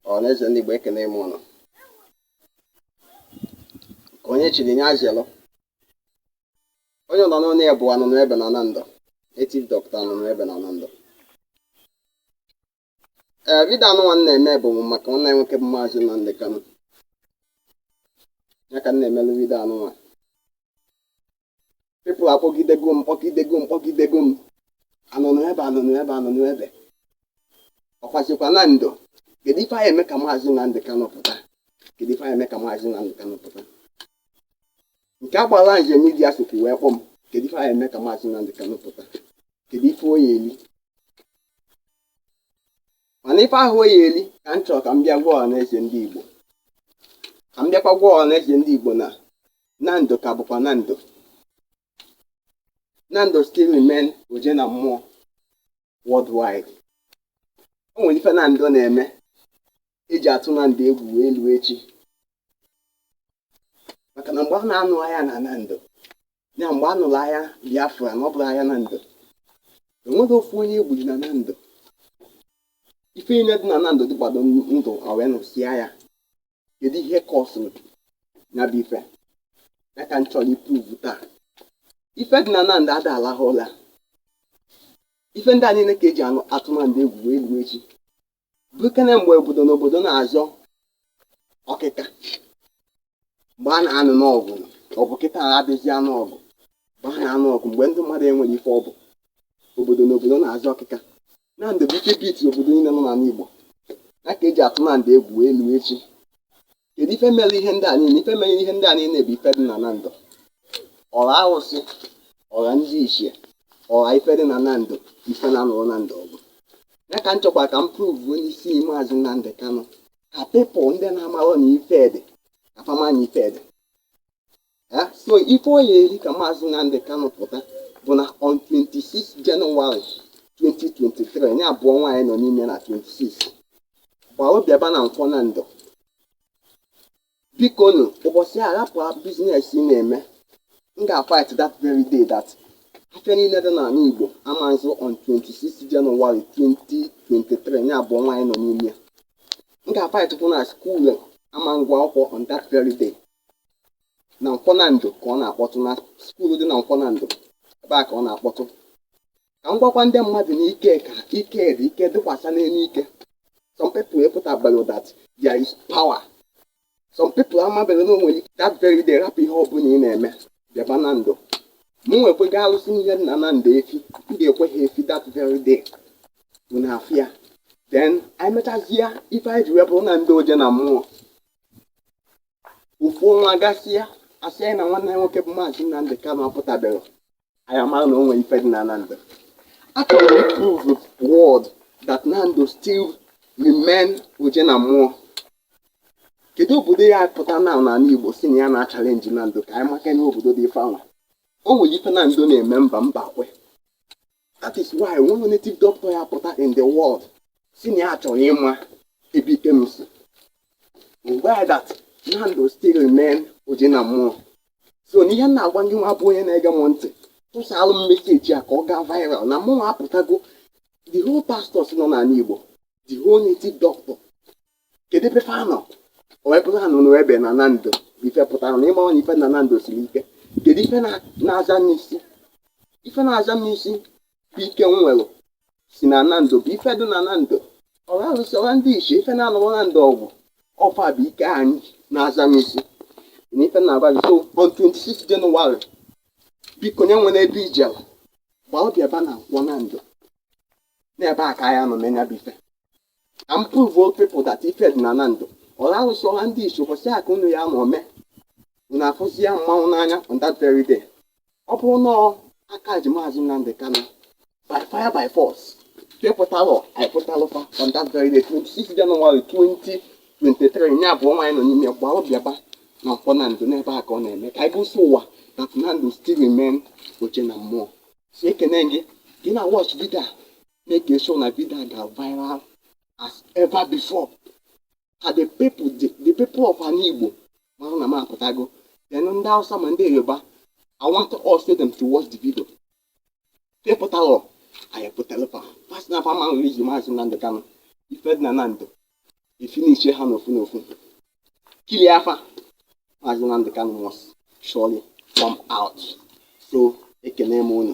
ọhaneze ndị Igbo ekene m ụnụ ka onye chiri nye azịlụ onye nọ n'ụlọ ya bụ anụnụ ebe na Nando native doctor anụnụ ebe na Nando ee vidio a nụnwa m na-eme bụ maka nwanne anyị nwoke bụ maazị Nnamdi Kanu ya ka m na-emelụ vidio a nụnwa people akpọgidego m kpọgidego m kpọgidego m anụnụ ebe anụnụ ebe anụnụ ebe ọkwachikwa Nando kedu ife anyị eme ka maazị Nnamdị Kanụ pụta kedu ife anyị eme ka maazị Nnamdị Kanụ pụta nke agbala nje Media sokwu wee kpọ m kedu ife anyị eme ka maazị Nnamdị Kanụ pụta kedu ife ọ ya-eli mana ife ahụ ọ ya-eli ka m chọrọ ka m bịa gwa ọha na eze ndị Igbo ka m bịakwa gwa ọha na eze ndị Igbo na Nando ka bụkwa Nando Nando still remain oje na mmụọ worldwide o nwere ife Nando na-eme eji atụ Nando egwu wee luo echi maka na mgbe a na-anụ agha na Nando ya mgbe a nụrụ agha Biafra na ọ bụrụ agha Nando enweghị ofu onye egburu na Nando ife niile dị na Nando dịkwado ndụ wee nụsịa ya kedu ihe kọsụrụ ya bụ ife ya ka m chọrọ ịpruvu taa ife dị na Nando ada alahụ ụla ife ndị a niile ka eji anụ atụ Nando egwu wee ruo echi bụkene mgbe obodo na obodo na-azọ ọkịka mgbe a na-anụ n'ọgụ ọ bụ kịta adịzi anụ ọgụ mgbe a na-anụ ọgụ mgbe ndị mmadụ enwere ife ọ bụ obodo na obodo na-azọ ọkịka Nando bu ike beat obodo niile nọ n'ala Igbo ya ka eji atụ Nando egwu wee luo echi kedu ife mere ihe ndị a niile ife mere ihe ndị a niile bụ ife dị na Nando ọra arụsị ọra ndị ichie ọra ife dị na Nando ife na-anụrụ Nando ọgụ ya ka m chọkwa ka m pruvuo n'isi maazị Nnamdị Kanụ ka people ndị na-amarọ na ife dị ka fa ma na ife dị Eh, so ife ọ ya-eri ka maazị Nnamdi Kanu pụta bụ na on 26 January 2023 ya bụ ọnwa anyị nọ n'ime na 26 gbaa obiaba na Nkwọ Nando bikonu ụbọchị a rapụ business ị na-eme m ga-fight that very day that afịa niile dị n'ala Igbo ama nzụ on 26 January 2023 ya bụ ọnwa anyị nọ n'ime ya m ga-fight kwụ na school ama ngụ akwụkwọ on that very day na Nkwọ Nando ka ọ na-akpọtụ na skuulu dị na Nkwọ Nando ebe a ka ọ na-akpọtụ ka m gwakwa ndị mmadụ na ike ka ike dị ike dịkwasa n'elu ike some people epụtabeghị that there is power some people amabeghị na o nwere ike that very day rapụ ihe ọbụla ị na-eme bịaba Nando m nwekwego alụsị ihe na Nando efi m ga-ekwe ha efi that very day bụ na afịa then anyị mechazie ife anyị ji wee bụrụ Nando oje na mmụọ ofu ọnwa gasịa asị anyị na nwanne anyị nwoke bụ maazị Nnamdị Kanu apụtaberọ anyị amara na o nwere ife dị na Nando achọrọ m prove world that Nando still remain oje na mmụọ kedu obodo ya-apụta n'ani Igbo sị na ya na-achalenji Nando ka anyị maka na obodo dị ife anwa o nwere ife Nando na-eme mba mba kwe that is why e nwee native doctor ya pụta in the world sị na ya chọrọ ịma ebe ike m si why that Nando still remain oje na mmụọ so na ihe m na-agwa ngị nwa bụ onye na-ege m ntị tụsalụ m meseji a ka ọ gaa viral na mụnwa apụtago the whole pastors nọ n'ani Igbo the whole native doctor kedu ebe fa nọ o wee bụrụ ha nọ n'ebe na Nando bụ ife pụtara na ịmawa na ife na Nando siri ike kedu ife na- na-aza m n'isi ife na-aza m n'isi bụ ike m nwere si na Nando bụ ife dị na Nando ọra arụsị ọra ndị ichie ife na-anọrọ Nando ọgwụ ọfa bụ ike anyị na-aza m isi na ife na-agwa gị so on 26 January biko onye nwere ebe ijela gbalụ bịaba na Nkwọ Nando n'ebe a ka a ya-anọ mee nya bụ ife ka m prove people that ife dị na Nando ọra arụsị ọra ndị isi ụbọchị a ka unu ya ma ome unu afụzia mmanwụ n'anya on that very day ọ bụrụ na a ka ji maazị Nnamdi Kanu by fire by force nke pụtalụ anyị pụtalụ fa on that very day 26 January 2023 ya bụ ọnwa anyị nọ n'ime ya gbalụ bịaba na Nkwọ Nando n'ebe a ka ọ na-eme ka anyị gosi ụwa that Nando still remain oje na mmụọ so ekene gị gị na watch vidio a make sure na video a ga viral as ever before ka the people the, the people of Anigbo mara na m apụtago then ndị Hausa ma ndị Yoruba I want all of them to watch the video nke pụtalụ anyị pụtalụ fa fa sị na fa ma nwere iji maazị Nnamdị Kanụ ife dị na Nando efinishe ha n'ofu n'ofu kilie afa maazị Nnamdị Kanụ must surely come out so ekene m unu